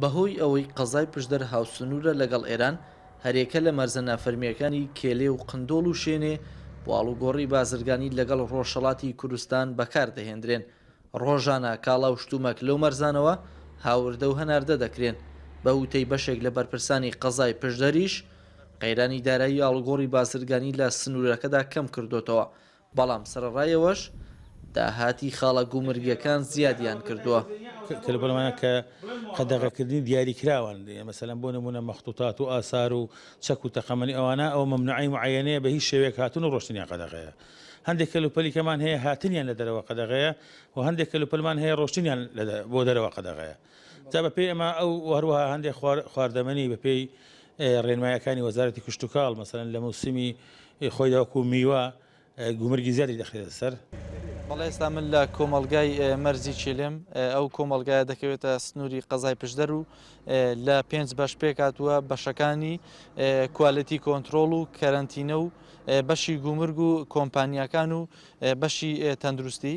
بەهۆی ئەوەی قەزای پشدەر هاوسنوورە لەگەڵ ئێران، هەریەکە لە مەرزە نافەرمییەکانی کێلێ و قندۆڵ و شێنێ بۆ ئاڵوگۆڕی بازرگانی لەگەڵ ڕۆژهەڵاتی کوردستان بەکار دەهێندرێن. ڕۆژانە کاڵا و شتومەک لەو مەرزانەوە هاوردە و هەناردە دەکرێن. بە وتەی بەشێک لە بەرپرسانی قەزای پشدەریش، قەیرانی دارایی ئاڵوگۆڕی بازرگانی لە سنوورەکەدا کەم کردۆتەوە، بەڵام سەرەڕایەوەش داهاتی خاڵە گومرگیەکان زیادیان کردووە. تەلەفۆنەمانە کە قەدەغەکردنی دیاریکراوەن، مەسەلەن بۆ نموونە مەخطوطات و ئاسار و چەک و تەقەمەنی ئەوانە، ئەوە مەمنوعەی معەیەنەیە بە هیچ شێوەیەک هاتن و ڕۆشتنیان قەدەغەیە. هەندێک کەلوپەلیکەمان هەیە هاتنیان لە دەرەوە قەدەغەیە و هەندێک کەلوپەلمان هەیە ڕۆشتنیان بۆ دەرەوە قەدەغەیە. جا بە پێی ئەمە ئەو و هەروەها هەندێک خواردەمەنی بە پێی ڕێنماییەکانی وەزارەتی کشتوکاڵ مەسەلەن لە موسمی ی خۆیدا وەکو میوە گومرگی زیادی دەخرێتە سەر. بەڵێ ئێستا من لە کۆمەڵگای مەرزی چێلێم، ئەو کۆمەڵگایە دەکەوێتە سنووری قەزای پشدەر و لە پێنج بەش پێکهاتووە، بەشەکانی کوالێتی کۆنترۆڵ و کەرەنتینە و بەشی گومرگ و کۆمپانیاکان و بەشی تەندروستی.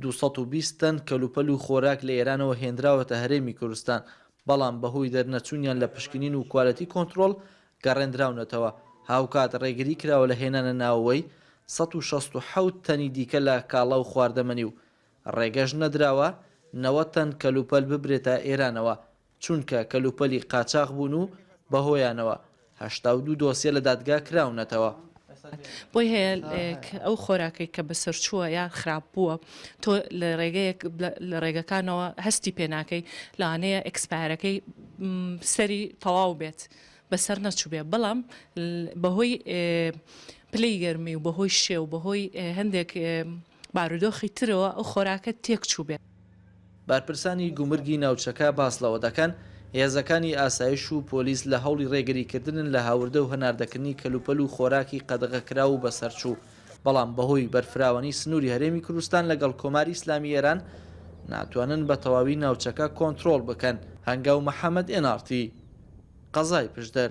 دوو سەد و بیست تەن کەلوپەل و خۆراک لە ئێرانەوە هێنراوەتە هەرێمی کورستان، بەڵام بەهۆی دەرنەچوونیان لە پشکنین و کوالێتی کۆنترۆڵ گەڕێندراونەتەوە، هاوکات ڕێگری کراوە لە هێنانە ناوەوەی سەد و شەست و حەوت تەنی دیکە لە کاڵا و خواردەمەنی و ڕێگەش نەدراوە نەوەد تەن کەلوپەل ببرێتە ئێرانەوە چونکە کەلوپەلی قاچاخ بوون و بەهۆیانەوە هەشتا و دوو دۆسیە لە دادگا کراونەتەوە. بۆی هەیە ئەو خۆراکەی کە بەسەرچووە یان خراپ بووە تۆ لە ڕێگەیەک لە ڕێگەکانەوە هەستی پێ ناکەی لەوانەیە ئێکسپایەرەکەی سەری تەواو بێت بەسەر نەچووبێ بەڵام بەهۆی پلەی گەرمی و بەهۆی شێ و بەهۆی هەندێک بارودۆخی ترەوە ئەو خۆراکە تێکچووبێت. بەرپرسانی گومرگی ناوچەکە باس لەوە دەکەن، هێزەکانی ئاسایش و پۆلیس لە هەوڵی رێگریکردنن لە هاوردە و هەناردەکردنی کەلوپەل و خۆراکی قەدەغەکراو و بەسەرچوو، بەڵام بەهۆی بەرفراوانی سنووری هەرێمی کوردستان لەگەڵ کۆماری ئیسلامی ئێران ناتوانن بە تەواوی ناوچەکە کۆنترۆڵ بکەن. هەنگاو محەمەد ئێن ئاڕ تی. قەزای پشدەر.